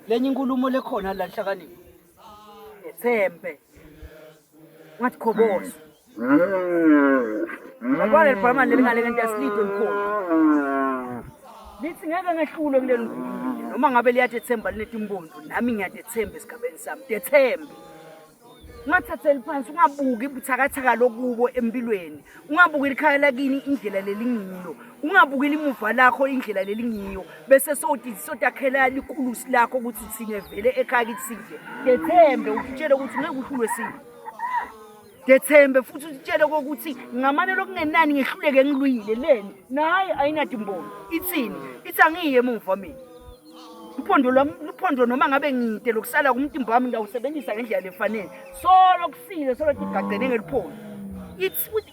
lenye inkulumo lekhona la nhlakanipho ngethembe Ngathi khoboza. Ngoba le bhama leli ngale kanti asilidwe likhona. Lithi ngeke ngehlule kuleli ngoma. Noma ngabe liyatethemba linetimbondo nami ngiyatethemba esigabeni sami. Tethembe. ungathatheli phansi ungabuki buthakathaka lokubo empilweni ungabuki likhaya lakini indlela lelingilo ungabukeli imuva lakho indlela lelingiyo bese soti sotakhela likulusi lakho ukuthi thine vele ekhaya kithi sidle dethembe utshele ukuthi ngeke uhlulwe sini dethembe futhi utshele kokuthi ngamane lokungenani ngihluleke ngilwile leni naye ayinadi mbono ithini ithi angiye emuva mina uphondo lwami luphondo noma ngabe ngide lokusala kumtimba wami ngawusebenzisa ngendlela lefanele solo kusile solo tigagcene ngeliphondo ithi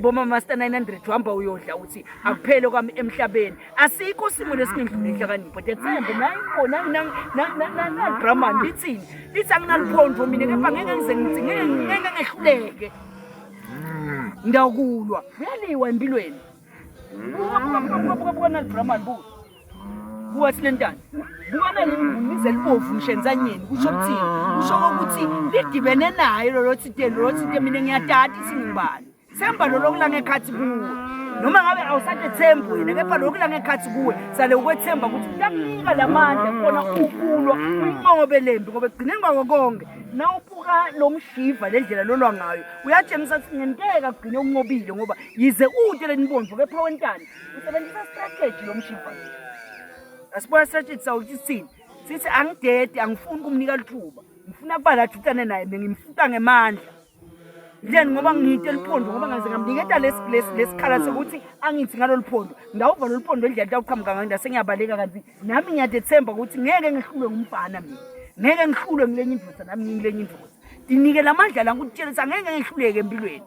Boma master 900 uhamba uyodla uthi akuphele kwami emhlabeni asikho simo lesingindlule inhlakanipho dethembe nayi khona na drama lithini lithi anginaliphondvo mina kepha ngeke ngize ngithi ngeke ngeke ngehluleke ngiyakulwa kuyaliwa empilweni buka buka buka buka buka nalidrama libuka kuwathi lentana bukana limvunize libovu mshenzanyeni kusho ukuthini kusho ukuthi lidibene naye lolo thiteni lolo thite mina ngiyadada ithi ngibani semba lolo kulanga ekhathi kuwe noma ngabe awusathe thembu wena kepha lokhu kulanga ekhathi kuwe sale ukwethemba ukuthi uyakunika la mandla khona ukulwa uyinqobe le mbi ngoba ekugcineni kwako konke na ubuka lo mshiva le ndlela lolwa ngayo uyatshengisa ukuthi ngenteka kugcine unqobile ngoba yize ude lenibomvu kepha wentana Usebenzisa strategy lo mshimfana. Asibuya strategy sawo ukuthi sithini. Sithi angidedi angifuni ukumnika lithuba. Ngifuna kuba la jutane naye bengimfuta ngemandla. Then ngoba ngiyinto eliphondo ngoba ngaze ngamniketa lesi lesi lesikhala sokuthi angithi ngalolu phondo. Ngawuva lolu phondo endlela tawuqhamuka ngayo ndase ngiyabaleka kanti nami ngiyadethemba ukuthi ngeke ngihlulwe ngumfana mina. Ngeke ngihlulwe ngilenye indoda nami ngilenye indoda. Ndinike lamandla la ngikutshela ukuthi angeke ngihluleke empilweni.